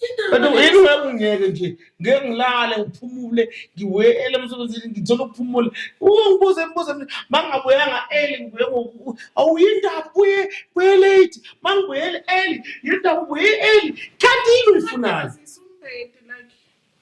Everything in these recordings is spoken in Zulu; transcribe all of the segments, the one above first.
Into yini uyakungeke nje ngeke ngilale ngiphumule ngiwele emsebenzini ngithole ukuphumula ungibuze imibuzo mina mangabuyanga early ngibuye ngoku awuyindaba buye buye late mangibuyele early yindaba buye early kanti yini uyifunayo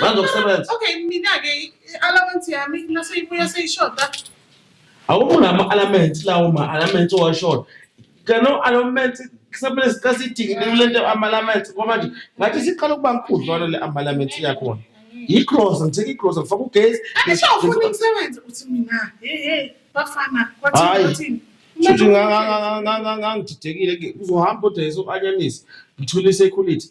Manje ukusebenza. Okay, mina ke allowance yami nase ibuya seyishoda. Awukho nama allowance lawo ma allowance owashoda. Kano allowance kusamele sicasidinge lento ama allowance ngoba nje ngathi siqala ukuba nkhudlwana le ama allowance yakhona. Igrosa ngithe igrosa ngifaka ugesi. Angisho ufuna umsebenzi uthi mina. Hey hey bafana kwathi kwathi. Shuthi ngangididekile kuzohamba odayisa u-anyanisi ngithule isekhulity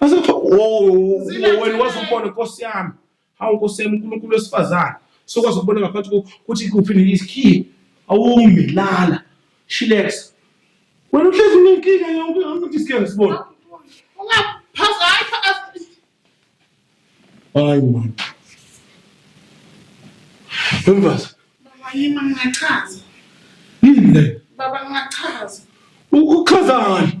Base kuthiwa wena wazi ukubona nkosi yami. Hawu nkosi yami uNkulunkulu wesifazane. Sokwazi ukubona ngaphansi ukuthi kuphi nesikhiye. Awumi lala. Chillax. Wena uhlezi unenkinga yonke ukuthi sikhe ngisibone. Ungaphaza hayi pha. Hayi man. Wemfazi. Baba yini ngingachaza. Yini le? Baba ngingachaza. Uchaza ngani?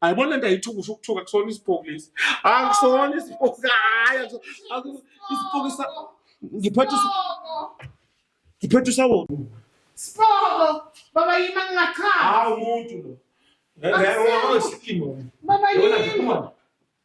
ayibona nto ayithuka usho ukuthuka kusona isiphoku lesi akusona isiphoku hayi isiphoku sa ngiphethe ngiphethe usawona siphoku baba yima ngingachama hayi umuntu lo Baba yini?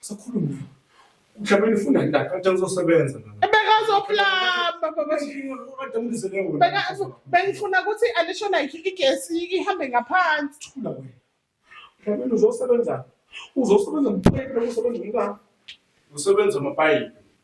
Sakhuluma. Mhlawumbe nifunda ndaka kanti ngizosebenza nami. Bekazoplamba baba. Beka bengifuna ukuthi alisho like igesi ihambe ngaphansi. Thula wena. Mhlawumbe uzosebenza. Uzosebenza mphephe usebenza ngani? Usebenza amapayipi.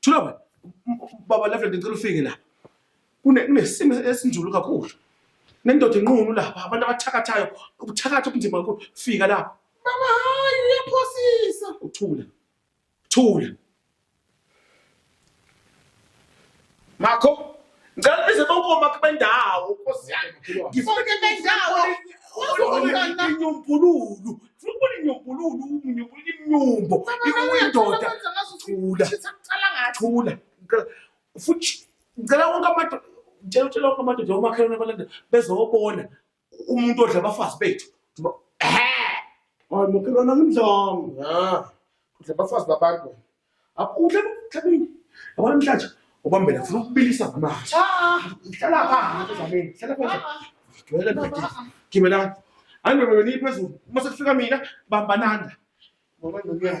Thula wena. Baba Lefle ngicela ufike la. Kune kunesimo esinzulu kakhulu. Nendoda inqunu la, abantu abathakathayo, ubuthakatha obunzima kakhulu. Fika la. Baba hayi uyaphosisa. Uthula. Thula. Makho Ngicela bize bonke omakhi bendawo Nkosi yami. Ngifuna Bonke bendawo. Uzokwenza- inyombululu. Ngifuna ukubona inyombululu, inyombululu imnyumbo. Indoda. Thula. Thula. Ngicela- Futhi ngicela wonke amadoda ngicela utshela wonke amadoda omakhelwane abalanda bezobona umuntu odla abafazi bethu makhelwana ngimdlanga udla abafazi babantu udla emhlabeni yabona mhlatsha ubambela funa ukubilisa ngamanzi hlala phansi zamini hlala phansi gcwele bhedile gibelani andoda yona iphezulu uma sekufika mina bambananda ngoba ndokuya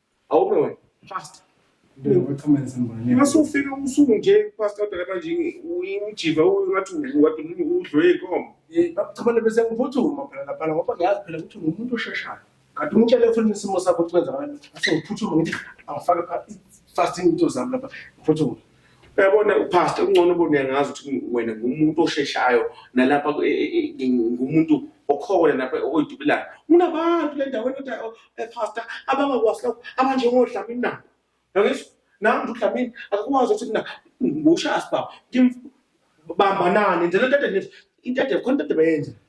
awume wena fast masufika usuku nje pastor dala manje uyimujiva ungathi wati udlwe inkomo cabana bese ngiphuthuma phela lapha ngoba ngiyazi phela ukuthi ngumuntu osheshayo kanti umtshele ufuna isimo sakho ukuthi kwenza ngani ase ngiphuthume ngithi angifake fasting into zami lapha ngiphuthume Uyabona uPastor kungcono ubone ngazi ukuthi wena ngumuntu osheshayo nalapha e, e, e, ngumuntu okhona lapha oyidubulayo. Kunabantu le ndaweni kodwa oh, eh, Pastor abangakwazi lokho abanjengodlamini nabo. Yangizwa? Nami nje udlamini akakwazi ukuthi mina ngushasi baba. Ngimbanani nje le nto into ade khona into ade bayenza.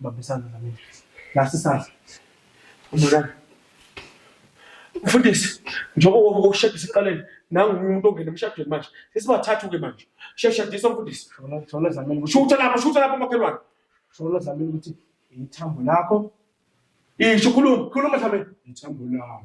Bambisana nami. Last isandla. Umulana. Mfundisi, njengoba wonke ukushadisa iqaleni, nangu umuntu ongena emshadweni manje. Sesibathathu-ke manje. Sheshadisa mfundisi. Shona zamini ukuthi Shutha lapho, shutha lapho makhelwane. shona zamini ukuthi ithambo lakho Isho khuluma, khuluma Dlamini. ithambo lawo.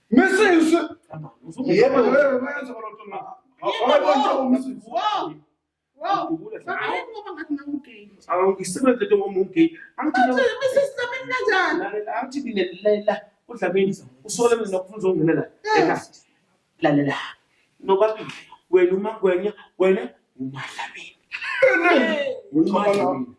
Misisi. Yebo. Awuyisebenze into ngoba ungay. Angithi mina lalela uDlamini usole mina nokufuna uzongenela ekati. Lalela. Nobabili wena uMagwenya wena uMadlamini. Umadlamini.